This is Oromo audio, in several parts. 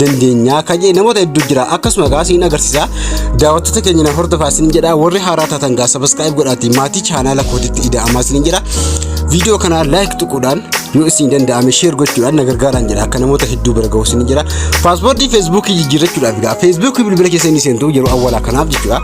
dandeenya kan jedhe namoota hedduu jira akkasuma gaa siin agarsiisa daawwattoota keenya na hordofaa siin jedha warri haaraa taatan gaa sabaskaayiib godhaatii maatii chaanaala kootitti ida'amaa siin jedha viidiyoo kana laayik tuquudhaan yoo isin danda'ame sheer gochuudhaan na gargaaraan jedha akka namoota hedduu bira ga'u siin jedha paaspoortii feesbuukii jijjiirrachuudhaaf gaa feesbuukii bilbila keessanii seentu yeroo awwalaa kanaaf jechuudha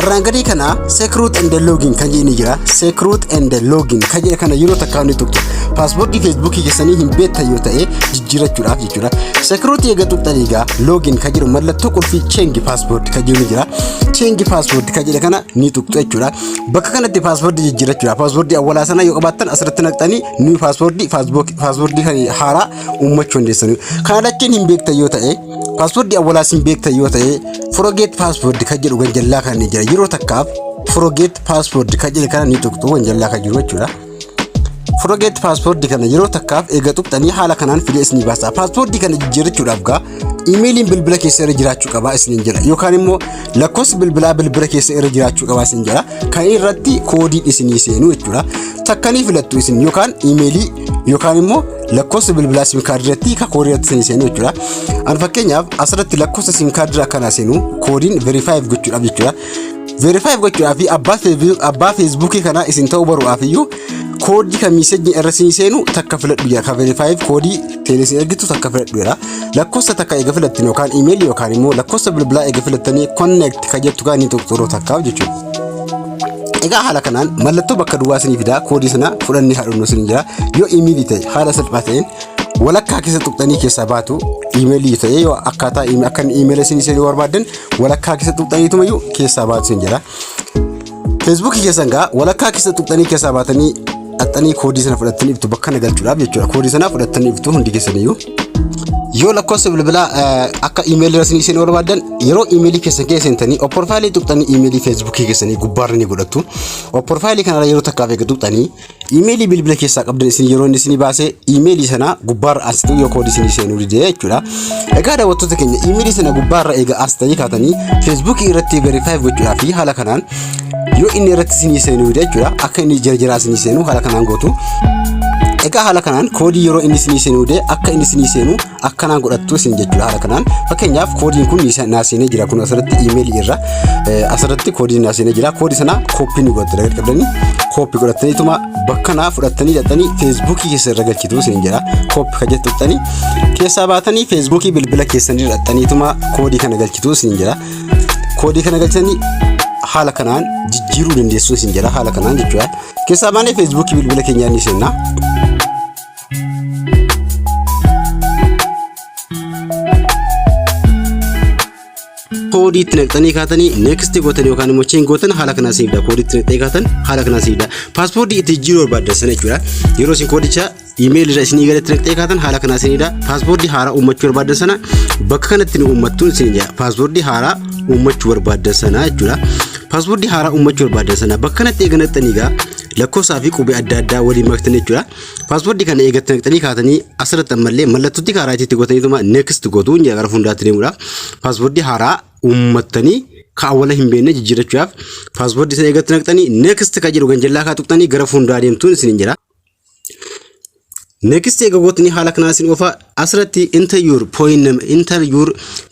Irraan gadii kana secret and login kan jedhani jira. Secret and login kan jedhe kana yeroo takkaa ni tuqxu. Paaspoortii feesbuukii keessanii hin beektan yoo ta'e jijjiirachuudhaaf jechuudha. Secret eega tuqxan egaa login kan jedhu mallattoo qulfii change passport kan jedhu ni jira. Change passport kan jedhe kana ni tuqxu jechuudha. Bakka kanatti paaspoortii jijjiirachuudhaaf paaspoortii awwalaa sana yoo qabaattan asirratti naqxanii ni paaspoortii paaspoortii kan haaraa uummachuu dandeessanii. Kana lachuun hin beektan yoo ta'e Paaswordii awwalaas hin beektan yoo ta'e forget password kan jedhu ganjallaa kan ni jira yeroo takkaaf forget password kan jedhe kana ni tuqxu ganjallaa kan jiru jechuudha. Forget password kana yeroo takkaaf eega tuqxanii haala kanaan fidee isinii baasa. Password kana jijjiirrachuudhaaf gaa imeeliin bilbila keessa irra jiraachuu qabaa isiniin jedha yookaan immoo lakkoofsi bilbilaa bilbila keessa irra jiraachuu qabaa isiniin jedha kan irratti koodiin isinii seenu jechuudha. Takkanii filattu isin yookaan imeelii yookaan immoo lakkoofsa bilbilaa sim kaardii irratti ka koodii irratti isin seenu jechuudha. An fakkeenyaaf asirratti lakkoofsa sim kaardii irraa kana seenu koodiin verifaayiif gochuudhaaf jechuudha. Verifaayiif gochuudhaaf abbaa feebi- abbaa feesbuukii kanaa isin ta'uu baruudhaaf iyyuu koodii kan miisejni irra isin seenu takka filadhu jira. Ka verifaayiif koodii seenee isin ergitu takka filadhu jira. Lakkoofsa takka eega filattan yookaan imeelii yookaan immoo lakkoofsa bilbilaa eega filattanii connect ka jettu kan inni tuqxuruu takkaaf jechuudha. Egaa haala kanaan mallattoo bakka duwwaa isinii fidaa koodii sana fudhannee haadhumnu isin jira. Yoo imeelii ta'e haala salphaa ta'een walakkaa keessa tuqxanii keessaa baatu imeelii ta'e yoo akkaataa akka imeela isin isin barbaaddan walakkaa keessa tuqxaniituma iyyuu keessaa baatu isin jira. Feesbuukii keessan gaa walakkaa keessa tuqxanii keessaa baatanii dhaxxanii koodii sana fudhattanii iftu bakka na galchuudhaaf jechuudha. Koodii sana fudhattanii iftu hundi keessaniyyuu. yoo lakkoofsa bilbilaa akka imeelii rasni isin barbaadan yeroo imeelii keessan keessa seentanii opporfaayilii tuqxanii imeelii feesbuukii keessanii gubbaarra ni godhattu opporfaayilii kanarra yeroo takkaaf eega tuqxanii imeelii bilbila keessaa qabdan isin yeroo inni isin baase imeelii sana gubbaarra as ta'u yoo koodii isin seenuu didee jechuudha egaa daawwattoota keenya imeelii sana gubbaarra eega as ta'ee kaatanii feesbuukii irratti verifaayi gochuudhaa fi haala kanaan yoo inni irratti isinii seenu jechuudha akka inni jarjaraa isinii seenu haala kanaan gootu egaa haala kanaan koodii yeroo inni isinii seenu dee akka inni isinii seenu akkanaan godhattu isin jechuudha haala kanaan fakkeenyaaf koodiin kun naa seenee jira kun asirratti iimeelii irra asirratti koodiin naa seenee jira koodii sana kooppii ni godhattu dagar qabdanii kooppii godhattaniituma bakka naa fudhattanii dhaxanii feesbuukii keessa irra galchitu isin jira kooppii kan jettu dhaxanii keessaa baatanii feesbuukii bilbila keessanii dhaxaniituma koodii kana galchitu isin jira koodii kana galchanii haala kanaan jijjiiruu dandeessu isin jedha haala kanaan jechuudha. Keessaa baanee feesbuukii bilbila keenyaa ni seenna. koodii itti naqxanii kaatanii next gootan yookaan immoo chain gootan haala kanaan siifda koodii itti naqxanii kaatan haala kanaan siifda paaspoortii itti jijjiiruu barbaaddan sana jechuudha yeroo isin koodicha Iimeeyil irra isinii galatti naqxee kaatan haala kanaa isinidha. Paaspoortii haaraa uummachuu barbaadan sana bakka kanatti nu uummattuun isin jedha. Paaspoortii haaraa uummachuu barbaadan sana jechuudha. Paaspoortii haaraa uummachuu barbaadan sana bakka kanatti eega naqxanii egaa lakkoofsaa fi qubee adda addaa waliin maktan jechuudha. Paaspoortii kana eegatti naqxanii kaatanii asirratti ammallee mallattootti haaraa itti godhataniituma next gootu inni gara fuulduraatti deemudha. Paaspoortii haaraa uummattanii kaawwala hin beekne jijjiirachuudhaaf paaspoortii sana eegatti naqxanii next kan jedhu ganjallaa kaa tuqxanii gara fuulduraa deemtuun isin hin jira. Next egaa gootni haala kanaa isin oofaa asirratti enter your point number enter your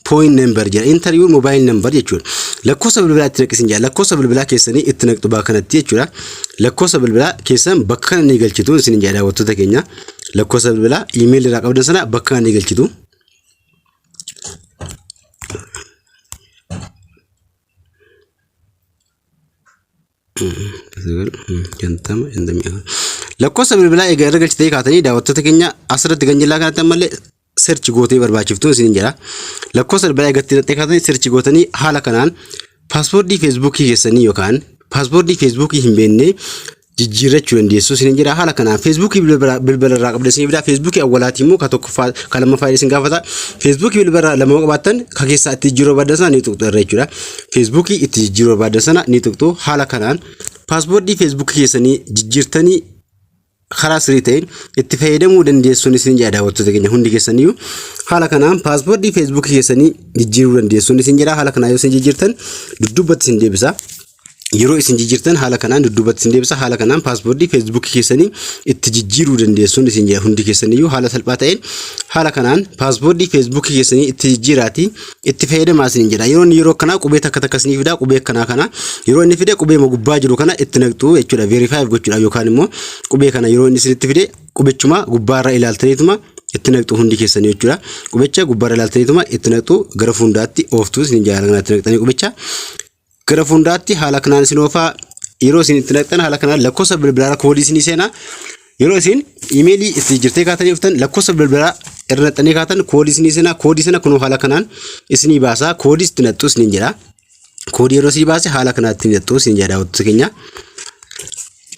point number jedha enter your mobile number jechuudha. Lakkoofsa bilbilaa itti naqi isin jedha lakkoofsa bilbilaa keessanii itti naqxu bakka kanatti jechuudha. Lakkoofsa bilbilaa keessan bakka kana ni galchitu isin jedha daawwattoota keenya. Lakkoofsa bilbilaa email irraa qabdan sana bakka kana ni galchitu. Lakkoofsa bilbilaa egaa irra galchitee kaatanii daawwattoota keenya asirratti kan jillaa kanatti ammallee search gootee barbaachiftuun isin jira. Lakkoofsa bilbilaa egaa irratti kaatanii search gootanii haala kanaan paaspoortii feesbuukii keessanii yookaan paaspoortii feesbuukii hin beekne jijjiirrachuu dandeessu isin jira. Haala kanaan feesbuukii bilbila irraa qabda isin biraa feesbuukii awwalaatii immoo ka tokkoffaa ka lammaffaa isin gaafata. Feesbuukii bilbila irraa lama qabaattan ka keessaa itti jijjiiruu barbaaddan sana ni tuqxu irra jechuudha. feesbuukii itti jijjiiruu barbaadda sana ni tuqxu haala kanaan paaswoordii feesbuukii keessanii jijjiirtanii karaa sirrii ta'een itti fayyadamuu dandeessuun isin jedha daawwattoota keenya hundi keessaniyyuu haala kanaan paaswoordii feesbuukii keessanii jijjiiruu dandeessuun isin jedha haala kanaan yoo isin jijjiirtan duddubbatti isin deebisa. yeroo isin jijjiirtan haala kanaan dudduubatti isin deebisa haala kanaan paaspoortii feesbuukii keessanii itti jijjiiruu dandeessuun isin jedha hundi keessaniyyuu haala salphaa ta'een haala kanaan paaspoortii feesbuukii keessanii itti jijjiiraatii itti fayyadamaa isiniin jedha. Yeroo inni yeroo akkanaa qubee takka takka isinii fidaa qubee akkanaa kana yeroo inni fide qubee ma gubbaa jiru kana itti naqxu jechuudha verify gochuudhaaf yookaan immoo qubee kana yeroo inni isinitti fide qubechuma gubbaarra ilaaltaniituma itti naqxu hundi keessanii jechuudha. Qubecha gubbaarra ilaaltaniituma itti naqxu gara fuundaatti ooftu isiniin jedha kana itti naqxanii qubecha. Gara fuunduraatti haala kanaan isin oofaa yeroo isin itti naqxan haala kanaan lakkoofsa bilbilaarra koodii isinii seenaa. Yeroo isin imeelii itti jirtee kaatanii dhuftan lakkoofsa bilbilaa irra naqxanii kaatan koodii isinii seenaa. Koodii sana kunoo haala kanaan isinii baasaa. Koodii itti naqxu isiniin jedha. Koodii yeroo isinii baase haala kanaan itti naqxu isiniin jedha daawwattoota keenya.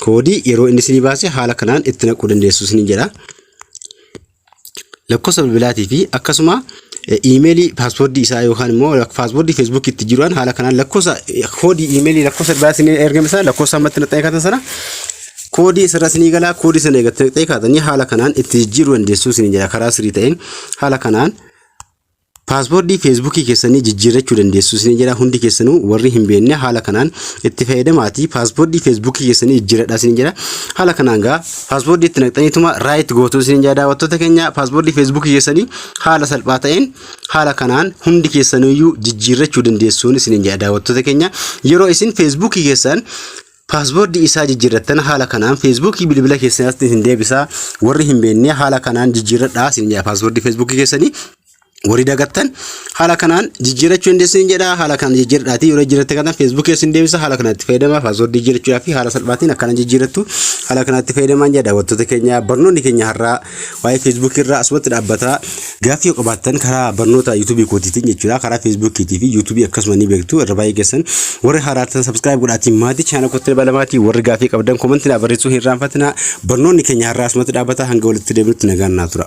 Koodii yeroo inni isinii baase haala kanaan itti naquu dandeessu isiniin jedha. lakkoofsa bilbilaatii fi akkasuma iimeelii paaswordii isaa yookaan immoo paaswordii feesbuukii itti jiruudhaan haala kanaan lakkoofsa koodii iimeelii lakkoofsa bilbilaatiin ni ergame sana lakkoofsa ammatti naqxee kaatan sana koodii isirra sinii galaa koodii sana eegattee naqxee kaatanii haala kanaan itti jijjiiruu dandeessuu sinii jira karaa sirii ta'een haala kanaan Paaswoordii feesbuukii keessanii jijjiirrachuu dandeessu isin jedha hundi keessanuu warri hin beekne haala kanaan itti fayyadamaati paaswoordii feesbuukii keessanii jijjiirradha isin jedha haala kanaan gaa paaswoordii itti naqxaniituma raayit gootu isin jedha daawwattoota keenya paaswoordii feesbuukii keessanii haala salphaa ta'een haala kanaan hundi keessanuyyuu jijjiirrachuu dandeessuun isin jedha daawwattoota keenya yeroo isin feesbuukii keessan Paasboordii isaa jijjiirrattan haala kanaan feesbuukii bilbila keessatti isin deebisa. Warri hin beekne haala kanaan jijjiirradhaa isin jedha paasboordii feesbuukii keessanii. Warri dagattan haala kanaan jijjiirrachuu dandeessu hin jedha haala kanaan jijjiirradhaatii yeroo jijjiirratte kana feesbuukii isin deebisa haala kanatti fayyadama paasboordii jijjiirrachuudhaaf fi haala salphaatiin akkana jijjiirrattu haala kanatti fayyadamaan jedha daawwattoota keenya barnoonni keenya har'aa waa'ee Facebook irraa asumatti dhaabbata. Gaaffii yoo qabaattan karaa barnoota YouTube kootiitiin jechuudha. Karaa Facebook fi YouTube akkasuma ni beektu. Irra baay'ee keessan warri haaraa ta'an subscribe godhaatiin maatii chaana kootti dabalamaatii warri gaaffii qabdan komantii naa barreessuu hin irraanfatina. Barnoonni keenya har'aa asumatti dhaabbata hanga walitti deebinutti nagaan naa tura.